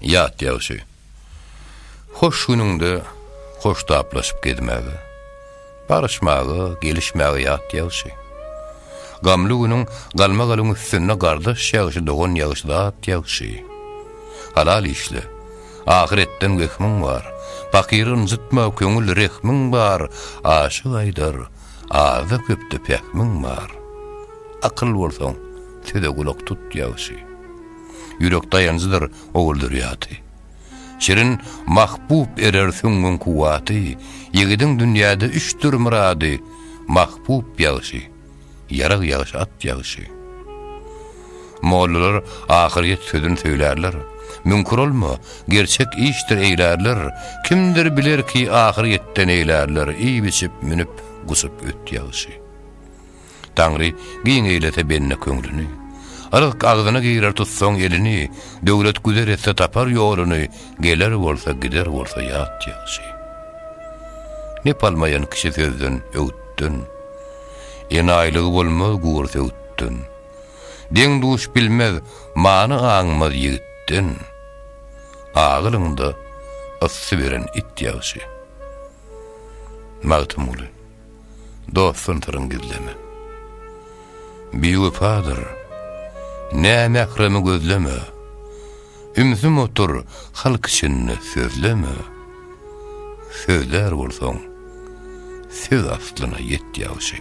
Ýat ýagşy. Hoş günüňde hoştaplaşyp gezmäge, barşmaga, gelişmäge ýat ýagşy. Gamly günüň galmagalyň üstünde gardaş ýagşy, dogan ýagşy, zat ýagşy. Halal işle. Ahyretden wehmiň bar. Pakyry ynjytma, köňül rehmiň bar. Aşyk aýdar, azda-köpde pähmiň bar. Akyl bolsaň, söze gulak tut ýagşy. Ýürek daýanjydyr Ogulderýady. Şirin Mahbub erer süňňüň kuwwaty, Ýigidiň dünýäde üçdir myrady, Mahbub ýagşy, ýarag ýagşy, at ýagşy. Mollalar ahyrýet sözün söýlärler, Müňkür olma, gerçek işdir eýlärler, Kimdir bilerki ahyrýetde neýlärler, Iýip-içip, münüp, gusup öt ýagşy. Taňry giň eýlese bende köňlüni. Yzk agzyna girer tutsaň elini, Döwlet güzer etse tapar ýoluny, Geler bolsa gider bolsa ýat ýagşy. Nep almaýan kişi sözden, öwütden, Enaýylygy bolmaz gury söwütden. Deň-duş bilmez, many aňmaz ýigitden, Agylyňda ysy beren it ýagşy. Magtymguly. dostdan syryň gizleme. Biwepadyr, nämähremi gözleme, ümsüm otur halk içinde sözleme. Sözlär bolsaň, söz aslyna ýet ýagşy.